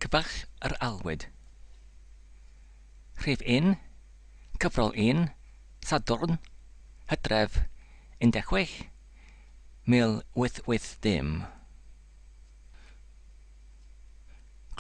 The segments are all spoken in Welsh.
Cyfaill yr Aelwyd. Rhif un, Cyfrol un, Sadwrn, Hydref 16, 1880.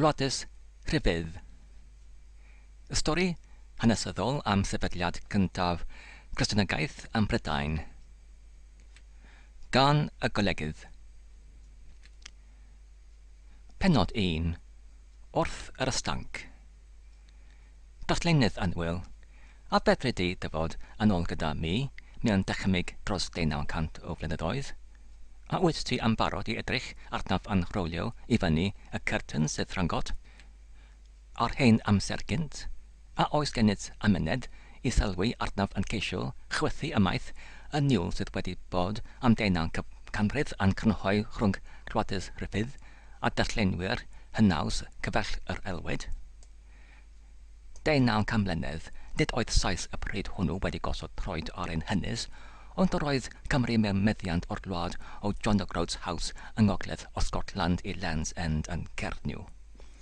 Gwladys Rhyfedd. Y stori hanesyddol am sefydliad cyntaf Christianagaeth ym Mhrydain. gan y Golegydd. Pennod 1, Wrth yr Ystânc. Darllenydd annwyl, a fedri di dyfod yn ôl gyda mi mewn dychymyg dros deunaw cant o flynyddoedd? A wyt ti yn barod i edrych arnaf yn rhowlio i fyny y cyrtyn sydd rhyngot? Ar hen amser gynt, a oes gennyt amynedd i sylwi arnaf yn ceisio chwythu ymaith y niwl sydd wedi bod am deunaw canrif a'n crynhoi rhwng Rhoades Ruffydd a darllenwyr hynaws cyfaill yr aelwyd? Deunaw can mlynedd, nid oedd Sais y pryd hwnnw wedi gosod troed ar ein hynys, ond yr oedd Cymru mewn meddiant o'r wlad o John O'Groats House yng ngogledd o Scotland i Land's End yn Cernyw.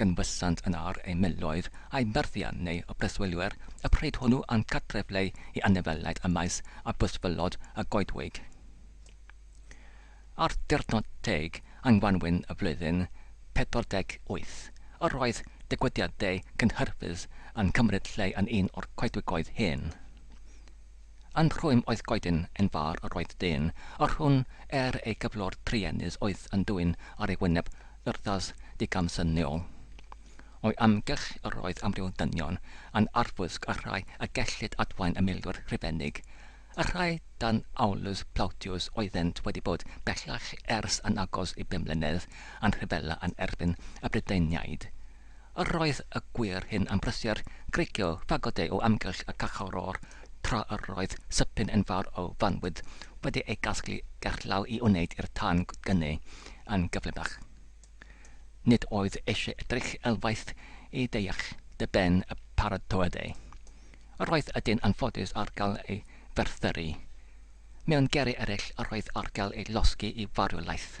Canfasant yn ar eu miloedd a'u myrthiau neu y preswylwyr y pryd hwnnw a'n cartrefleu i anifeiliaid y maes a bysfylod y goedwig. Ar ddiwrnod teg yng ngwanwyn y flwyddyn 48, yr oedd digwyddiadau cynhyrfus yn cymryd lle yn un o'r coedwigoedd hyn. Yn rhwym oedd goeden yn far yr oedd dyn o rhwn er ei gyflwr truenus oedd yn dwyn ar ei wyneb urddas digamsyniol. O'i amgylch yr oedd amryw ddynion yn arfwisg y rhai y gellid adwaen y milwyr Rhufeinig, y rhai dan Aulus Plautius oeddent wedi bod bellach ers yn agos i bum mlynedd yn rhyfela yn erbyn y Brydeiniaid, Yr oedd y gwŷr hyn am brysur, greigiau, fagodau o amgylch y cachoror, tra yr oedd sypyn enfawr o fanwydd wedi ei gasglu gerllaw i wneyd i'r tân gynnu yn gyflymach. Nid oedd eisiau edrych elwaith i ddeall dy ben y paratoadau. Yr oedd y dyn anffodus ar gael ei ferthyru. Mewn geri ereill yr oedd ar gael ei losgi i farwlaeth.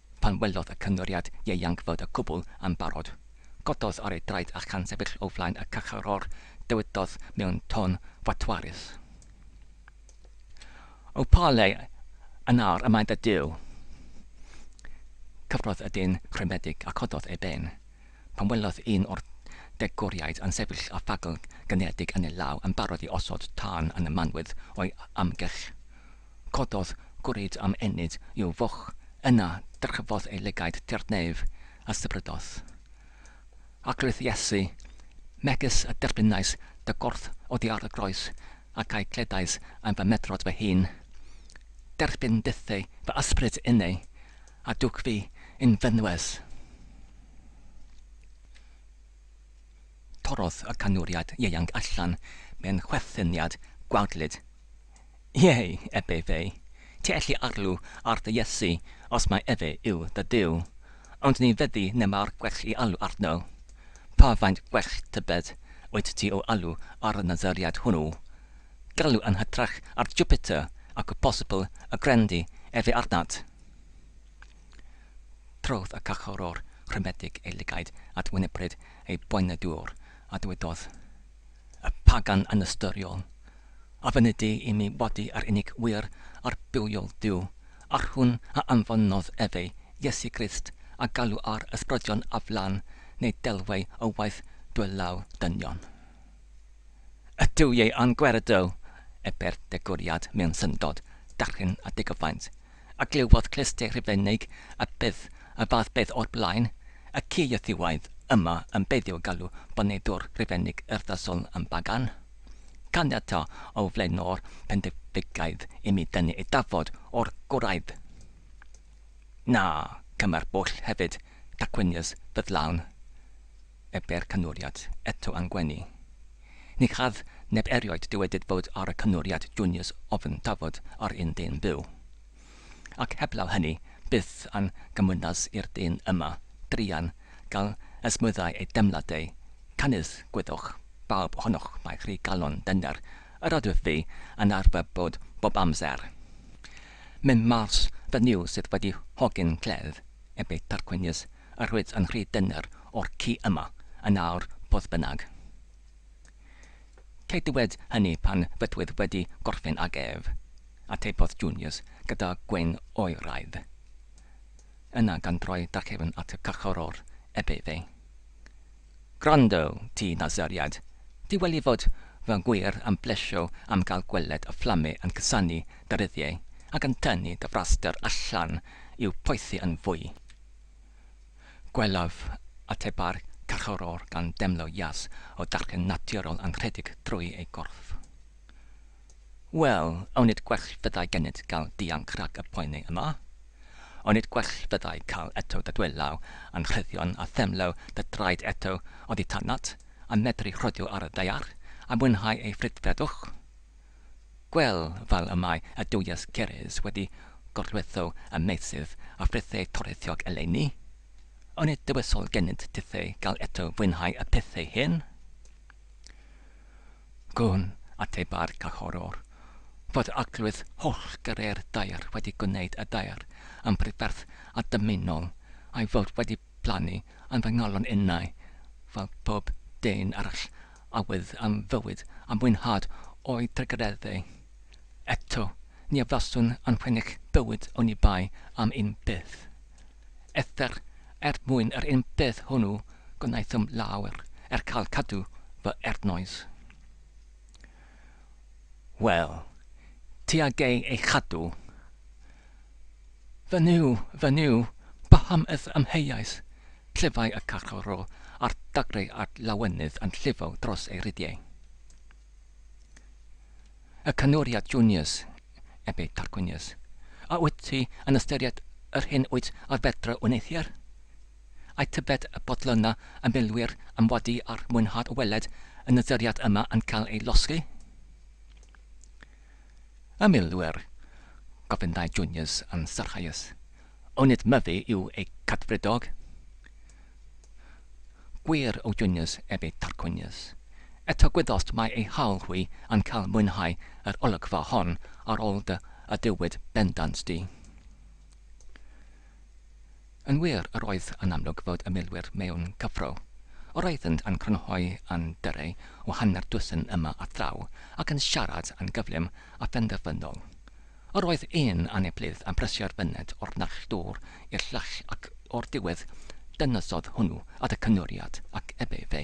Pan welodd y cymeriad ieuanc fod y cwbl yn barod, cododd ar ei draed a chan sefyll o flaen y carcharor, dywedodd mewn tôn fatwarus, O pa le yn aur y mae dy Duw? Cyfrodd y dyn rhwymedig a chododd ei ben, pan welodd un o'r degwriaid yn sefyll â phagl gyngiedig yn ei law yn barod i osod tân yn y manwydd o'i amgylch. Cododd gwrid am ennyd i'w foch, yna dyrchafodd ei lygaid tua'r nef, a sybrydodd. Arglwydd Iesu, megys y derbynais dy gorff oddi ar y groes, ac a'i gledais am fy medrod fy hun, derbyn bytheu fy ysbryd innau, a dwg fi yn fynwes. Torrodd y canwriaid ieuanc allan mewn chwerthinniad gwaedlyd. Iei, ebe fe, ti elli arlw ar dy Iesu os mai efe yw dy Duw, ond ni fyddi neb-ar gwell i alw arno. Pa faint gwell tybed wyt ti o alw ar y Nazaread hwnnw? Galw yn hytrach ar Jupiter ac o bosibl y grendi efe arnat. Trodd y Cyngorwr Rhymedig ei lygaid at wynebryd ei boenau dŵr, a dywedodd, Y pagan anystyriol, a fynedi i mi wadu yr unig wir a'r bywiol Duw, a'r hwn a anfonodd efe, Iesu Grist, a galw ar ysbrydion a flân, neu delwau o waith dwylaw dynion. Y Duwiau a'n gweredw! Ebe'r degwriad mewn syndod, darllen a digyfaint. a glywodd clustiau Rhufeinig a byth y fath beth o'r blaen, y ci Iethiwaidd yma yn beidio galw boneddwr Rhufeinig urddasol yn bagan. Caniata o flaenor Pendificaidd i mi dynnu eithafod o'r gwraidd. Na, cymmer bwll hefyd, tacwynius, ffyddlawn. Ebe'r cynwriad eto am gwenu. Ni chaf neb erioed dywedyd fod ar y cynwriad juniors ofn tafod ar un dyn byw. Ac heblaw hynny, byth a'n gymwynas i'r dyn yma, druan, gael ysmwyddau ei deimladau, canys, gwyddwch, bawb ohonoch mae rhy galon dyner yr ydwyf fi yn arfer bod bob amser. Myn Mars fy Nuw sydd wedi hogyn cledd, ebe Tarquinius, a rhoed yn rhy dyner o'r ci yma yn awr fodd bynnag. Cei dywed hynny pan fydwyf wedi gorffen ag ef, atebodd Junius gyda gwên oeraidd. Yna gan droi darchefn at y carcharor eb efe. Gwrando, ti Nasuriad, di weli fod fy ngwir am blesio am gael gweled y fflame yn cusanu dy ryddiau ac yn tynnu dy fraster allan i'w poethi yn fwy. Gwelaf ateba'r carcharor gan demlo jas o darllen naturol anrhydug drwy ei gorff. Wel, onid gwell fyddai gennyt gael dianc rhag y poeni yma? Onid gwell fyddai cael eto dy dwylaw anrhyddion a themlo dy draed eto oddi tanat, a medru rhodio ar y ddaear, a mwynhau ei frydferthwch? Gwell fel y mae y Duwies Ceres wedi gorlwytho y meysydd a frithei toreithiog eleni? Onid dywysol genyt tithei gael eto fwynhau y pethau hyn? Gwn, ateba'r Cachorwr, fod yr Arglwydd hollgyrrau'r daear wedi gwneyd y daear yn brydferth a dymunol, a'i fod wedi blannu yn fy ngalon innau fel pob dyn arall a wyf am fywyd a mwynhad o'i dragedydde. Eto, ni a faswn yn fenech bywyd oni bai am un peth. Eithr er mwyn yr un peth hwnnw gwnaethom lawer er cael cadw fy ernoes. Wel, ti a gei ei chadw. Fy Nuw, fy Nuw, paham ith amheuais? Clyfai y carcharor a'r dagrau a'r lawenydd yn llifo dros ei rydiau. Y canwriad Junius, ebe Tarquinius, a wyt ti yn ystyried yr hyn wyt ar fedra wneud hier? Ai tybed y bod luna y milwyr am wadu a'r mwynhad o weled y nyduriad yma yn cael ei losgi? Y milwyr? gofynnai Junius yn sarhaus. Onid Myfi yw eu cadfridog? Gwir, o Junius, ef ei Tarquinius. Eto gwyddost mai ei haul hwy yn cael mwynhau yr olygfa hon ar ôl dy aduwyd bendant di. Yn wir, yr oedd yn amlwg fod y milwyr mewn cyffro. Yr oeddynt yn crynhoi andyrrau o hanner dwsin yma a thraw, ac yn siarad yn gyflym a phenderfynol. Yr oedd un aneblydd yn presio'r fyned o'r naill dwr i'r llall ac o'r diwedd dynysodd hwnnw at y cynwriad ac ebe fe.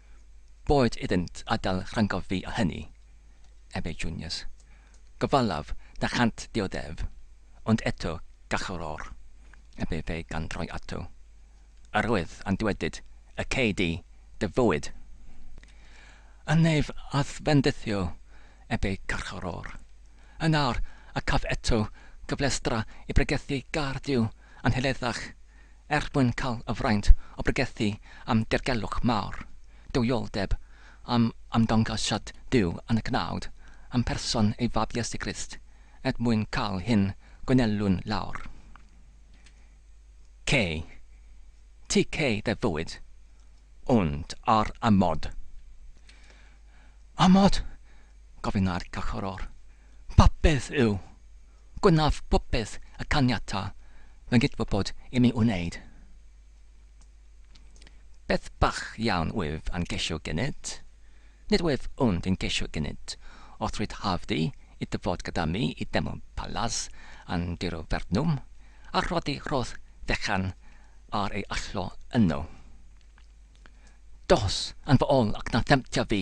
boed iddynt adael rhyngof fi o hynny, ef ei junius. Gofalaf na chânt dioddef, ond eto gachor or, ef ef ei gandroi ato. Yr oedd a'n dywedyd, y cei di dy fywyd! Yn ef a'th fendithio, ef ei carchor or. Yn awr, a caf eto gyflestra i bregethu gar Duw anheleddach, Er mwyn cael y fraint o bregethu am dirgelwch mawr, duwioldeb, am ymddangosiad Duw yn y cnawd, am person ei Fab Iesu Grist, er mwyn cael hyn gwnelwn lawr. Cy. TK fe fuwyd, ond ar amod. Amod? gofynna'r Cychorwr. Popeth yw! Gwnaf popeth y caniata fy nghydwybod i mi wneud. Beth bach iawn wyf yn ceisio gynnydd? Nid wyf ond yn ceisio gynnydd. Os rwyt hawdd i ddyfod gyda mi i Deml Palas yn diro fernwm, a rhoddi rhodd fechan ar ei allgo yno. Dos yn fy ol ac na themtio fi!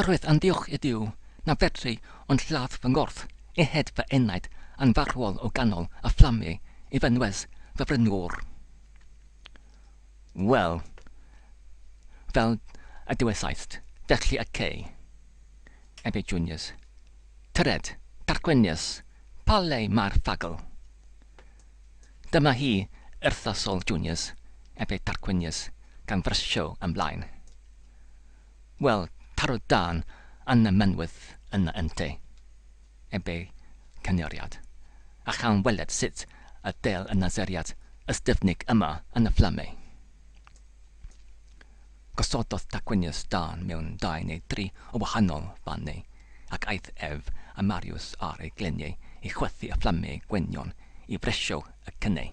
Yr oedd yn ddiolch i Duw na fedri ond lladd fy ngorff i hyd fy enaid yn farwol o ganol y fflamie i fy nwes fy frenwr. Wel, fel y dywesaist, felly y cei. Efe Juniors. Tyred, Tarquinius, pa le mae'r ffagl? Dyma hi, Urthasol Juniors, efe Tarquinius, gan frysio ymlaen. Wel, taro dân yn y mynwent yna ynte, eb ei chynheriad, a chawn weled sut y dêl y naseriad ystyfnig yma yn y fflamau. Gosododd Tacwinius dân mewn dau neu dri o wahanol fannau, ac aeth ef a Mariws ar ei gleniau i chwythu y fflamau gweinion i fresio y cynnau.